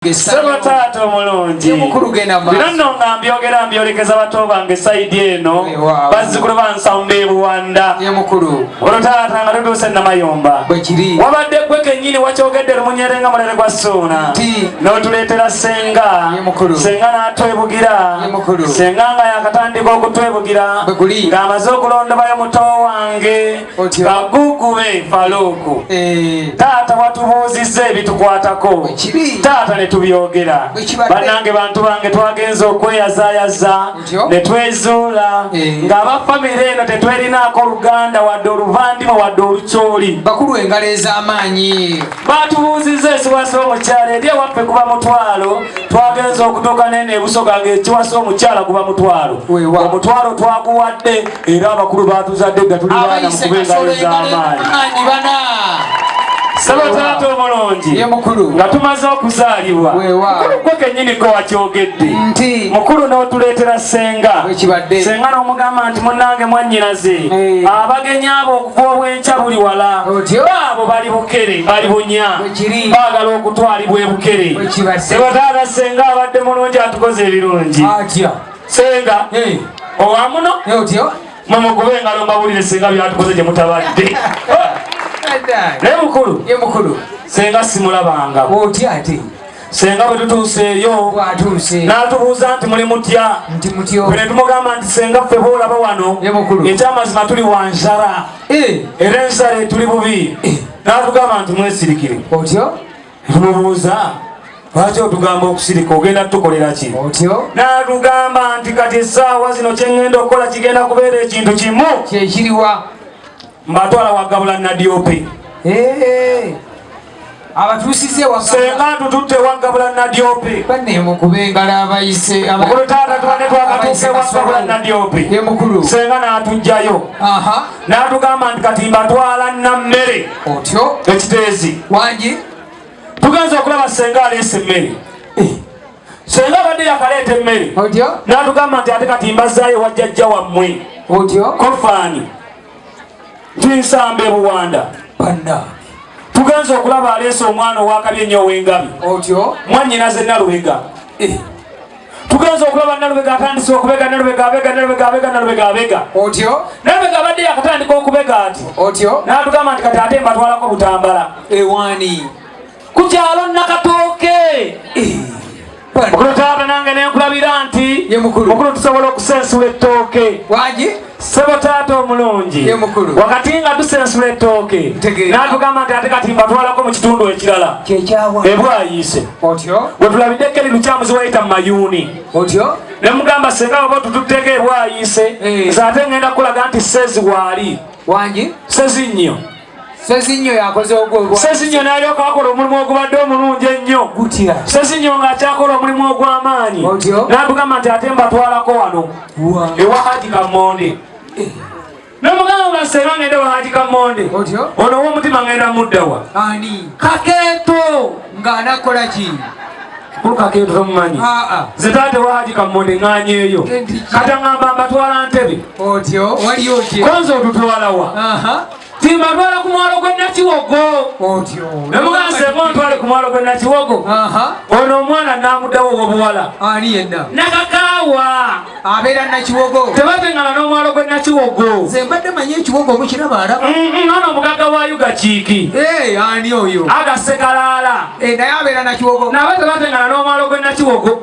Saba taata omulungi bino nno nga mbyogera mbyolekeza bato bange saidi eno bazzukulu bansamba ebuwanda olwo taata nga tutuuse namayomba wabadde gwe kenyini wakyogedde lumunyere nga mulere gwa suuna n'otuleetera senga senga n'atwebugira senga nga yakatandika okutwebugira ng'amaze okulondobayo muto wange bagugu be faluuku eh. taata watubuuzizza ebitukwatako taata ne tubyogera bannange bantu bange twagenza okweyazayaza ne twezuula eh. ng'aba famire eno tetwerinaako oluganda wadde oluvandimwe wadde olucooli bakulu engalo ez'amaanyi batubuuzizza ekiwasa omukyala eri ewaffe kuba mutwalo twagenza okutuuka nene ebusoga ng'ekiwasa omukyala kuba mutwalo omutwalo twaguwadde era abakulu batuzadde dda tuli baana mukube engalo ez'amaanyi saba taata omulungi nga tumaze okuzaalibwa gwe kenyini ko wakyogedde mukulu n'otuleetera senga senga n'omugamba nti munange mwannyinaze eh. abagenyi abo okuva obwenkya buli wala baabo bali bukere bali bunya baagala okutwalibwa ebukere saba taata senga abadde mulungi atukoze ebirungi senga owamuno otyo mumukube engalo mbawulire singa byatukoze gye mutabadde naye mukulu ye mukulu senga simulabanga otya ate senga bwe tutuuseeyo n'atubuuza nti muli mutya bwe ne tumugamba nti senga ffe boolaba wano ekyamazima tuli wa nsara eh. era ensara etuli bubi eh. n'atugamba nti mwesirikire otyo Tumubuuza lwaki otugamba okusirika ogenda tukolera ki otyo natugamba nti kati esaawa zino kyengenda okukola kigenda kubeera ekintu kimu kyekiriwa mbatwala wagabula nadiope abatuusize wasenga tututte wagabula nadiope banemukube engalo abayise mukulu taata tubadde twakatuuse wagabula nadiope emukulu senga natujjayo n'atugamba nti kati mbatwala nammere otyo ekiteezi wangi tugenza okulaba senga aleesa emmere eh. senga abadde yakaleeta emmere n'atugamba nti ate kati mbazaayo wajjajja wammwe otyo kofaani tinsamba ebuwanda banna tugenza okulaba aleesa omwana owakabi ennyo ow'engabi otyo mwannyinaze nalubega eh. tugenze okulaba nalubega atandise okubega nalubega abega nalubega abega nalubega abega otyo nalubega abadde yakatandika okubega ati otyo natugamba nti kati ate mbatwalako butambala ewani ku kyalo nakatooke eh. mukulu taata nange nenkulabira nti mukulu tusobola okusensula ettooke wagi Sebo taata omulungi wakati nga tusensula ettooke n'atugamba nti ate kati mbatwalako mu kitundu ekirala ebwayiise wetulabidde keri lukyamuzi wayita mu mayuuni ne mugamba senga oba otututteeko ebwayiise eh. nze ate ngenda kukulaga nti sezi waali sezi nnyo Sezinyo yakoze ogwo. Sezinyo n'alyoka akola omulimu ogubadde omulungi ennyo. Gutya. Sezinyo ng'akyakola omulimu ogw'amaanyi. Otyo. N'atugamba nti ate mbatwalako wano. Wa. Ewa Haji Kamonde. Eh. Nomugamba sema ngende wa Haji Kamonde. Otyo. Ono w'omutima ngenda muddawa. Ani. Kakeeto ng'anakola ki? Kakeeto tomumanyi. Aa. Ah, ah. Ze taate wa Haji Kamonde ng'anyeeyo. Kata ngamba mbatwala Ntebe. Otyo. Wali otyo. Konzo otutwala wa. Aha. Timba ntwala ku mwalo gwe Nakiwogo. Otyo. Ne mugamba sebo ntwale ku mwalo gwe Nakiwogo. Aha. Ono omwana namudawo obuwala. Ani yenna? Nakakawa. Abeera Nakiwogo. Tebatengana n'omwalo gwe Nakiwogo. Nze mbadde manyi ekiwogo omukiraba alaba. Mm, mm, ono omugagga wa Yuga Kiiki. Ee eh, ani oyo? Aga Sekalaala. Ee eh, naye abeera Nakiwogo. Nabo tebatengana n'omwalo gwe Nakiwogo.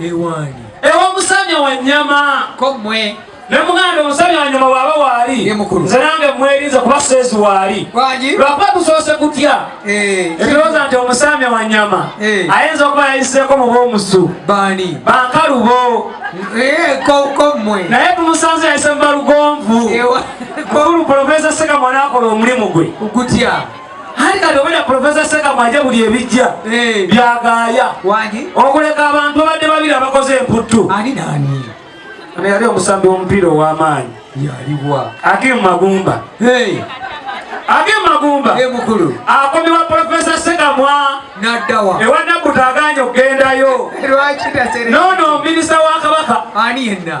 ewange ewomusanya wanyama ko mwe nemugambe omusajja wanyuma waaba waali nze nange mwerinze kuba seezi waali lwakuba tusoose kutya eh. ebirowooza nti omusaami wa nyama eh. ayinza okuba yayiseeko mu b'omusu bankalubo eh, naye tumusanze yayise mu balugonvu mukulu pulofesa seka mwana akola omulimu gwe Hali kati obera Professor Seka mwaje buli ebijja eh. byagaaya okuleka abantu babadde babiri abakoze emputtu ani nani ano yali omusambi w'omupiira ow'amaanyi yaliwa age mumagumba age mumagumba mukulu akomibwa profesa segamwa naddawa ewa nabbuta aganya okugendayo lwaki taseree nono minisita wa kabaka ani yenna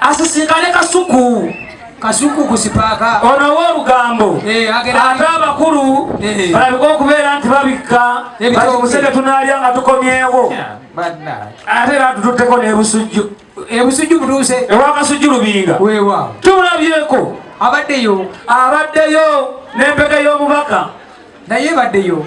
asisinkane kasuku kasuku kusipaaka ono w'olugambo eh, ate abakulu eh. balabika okubeera nti babikka batimuseke tunaalya nga tukomyewo ate era tututteko n'ebusujju ebusujju butuuse ewakasujju lubinga wewa tulabyeko abaddeyo abaddeyo n'empeke y'omubaka naye baddeyo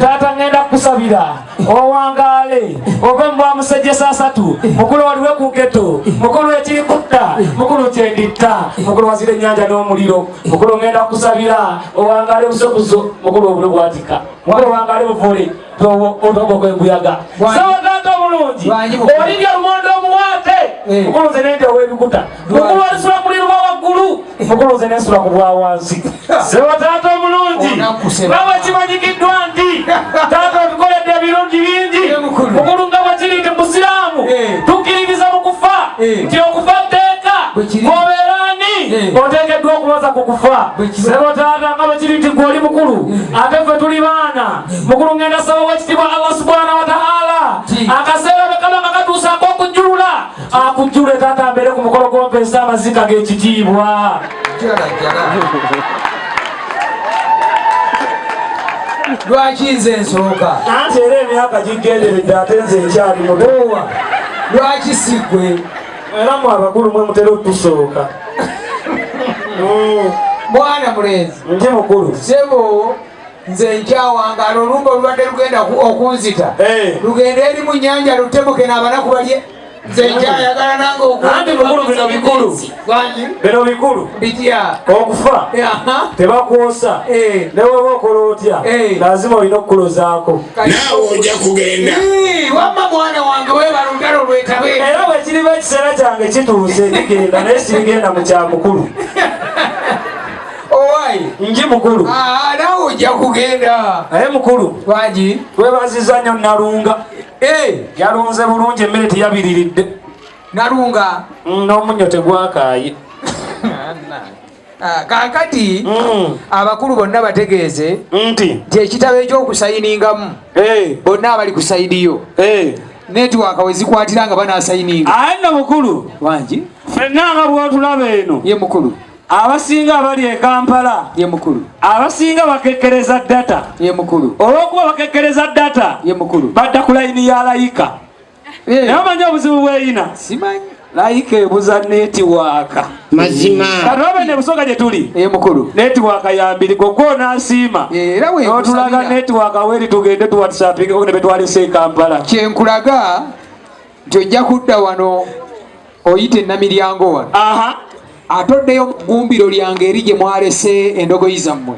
taata ngenda kukusabira owangaale ove mubwa musejjesa asatu mukulu waliwe ku nketo mukulu ekiri kutta mukulu kyenditta mukulu wazira ennyanja n'omuliro mukulu ngenda kukusabira owangaale busobuzo mukulu obulo bwatika mukulu owangaale buvule otogo kwembuyaga sawa taata omulungi olibya lumonde omuwaate eh. mukulu nze nende ow'ebikuta mukulwanyisa omuliro gwa waggulu mukulunze nensula ku bwa wansi sebo taata omulungi nga bwekimanyikiddwa nti taata otukoledde ebirungi bingi mukulu nga bwekiri nti musiraamu eh. tukkiririza mu kufa eh. nti okufa tteeka obeera ani eh. oteekeddwa okubaza ku kufa sebo taata nga bwekiri nti gwe oli mukulu ate ffe tuli baana mukulu ngenda saba wekitibwa allah subhanahu wataala akaseera bwekaba nga katuusaako okujjulula akujjule taata mbeere ku mukolo gw'ompeesa amaziika g'ekitiibwa lwaki nze nsooka anti era emyaka gigenderedde ate nze ekyali mutowa lwaki sigwe era mu abakulu mwe mutera otusooka mwana mulenzi ndi mukulu sebo nze nkyawangala olumba olubadde lugenda okunzita eh. lugenda eri mu nyanja lutebuke n'abanaku balye anti bikulu bino bikulu bino bikulu okufa tebakwosa eh. neweba okola otya eh. lazima olina okukulozaako naawe oja kugenda wamma mwana wange webala olugalo lwetabe era bwekiriba ekiseera kyange kituuse kigenda naye sibigenda mu kyamukulu Owaye nji mukulu. Ah, nawe ojja kugenda. Naye mukulu. Waji. Webaziza nnyo Nalunga. Eh, yalunze bulungi emmere teyabiriridde. Nalunga. Mm, N'omunnyo tegwakaaye. Ah, kaakati mm. abakulu bonna bategeeze nti nti ekitabo ekyokusayiningamu eh. bonna abali ku sayidi yo eh. netiwaka wezikwatira nga banasayininga aye nno mukulu wangi fenna nga bwotulaba eno ye mukulu abasinga abali e kampala ye mukulu abasinga bakekkereza data ye mukulu olw'okuba bakekkereza data ye mukulu badda ku layini ya layika eh. naye omanyi obuzibu bweyina simanyi layika ebuza netiwaaka mazima kati obe nebusooka gye tuli ye mukulu netiwaaka yambiri gogwo onasiima eh, era otulaga netiwaaka weri tugende tuwatisapinga ne betwalese e kampala kyenkulaga nti ojja kudda wano oyite namiryango wano atoddeyo gumbiro lyange eri gye mwalese endogoyi zammwe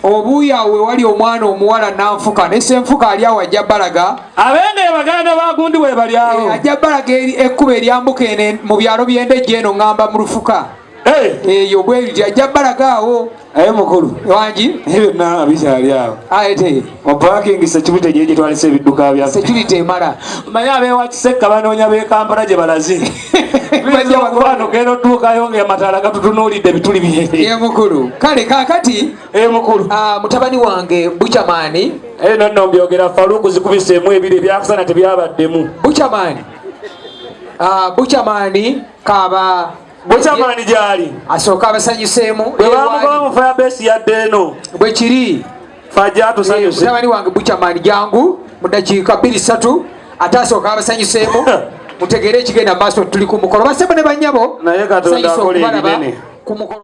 obuuyi awo wewali omwana omuwala nanfuka nesenfuka ali awo ajja balaga abenge baganda bagundi webali awo eh, ajja balaga ekkuba eryambuka ene mu byalo byendejje eno ŋŋamba mu lufuka eyo bwebiti ajja balaga awo aye mukulu wangi byonna bikyali awo ayete mupakingi security gye gitwalisa ebidduka bya security emala manye abeewa kisekka banoonya bekampala gye balaze bano genda otuukayo nga amataala gatutunuulidde bituli bye mukulu kale kakati mukulu ah, mutabani wange buchamani aye nonno mbyogera faluku zikubiseemu ebiri ebyakusana tebyabaddemu buchamani ah, buchamani kaba bwekyamaani gyali asooka abasanyuseemu bwebamugoba mu fayabeesi yadde eno bwekiri fajatusanyusemutabani wange bukyamaani jangu mu dakiika bbiri satu ate asooka abasanyuseemu mutegeere ekigenda maaso tuli ku mukolo basebo ne banyabo naye katonda akola ebinene ku mukolo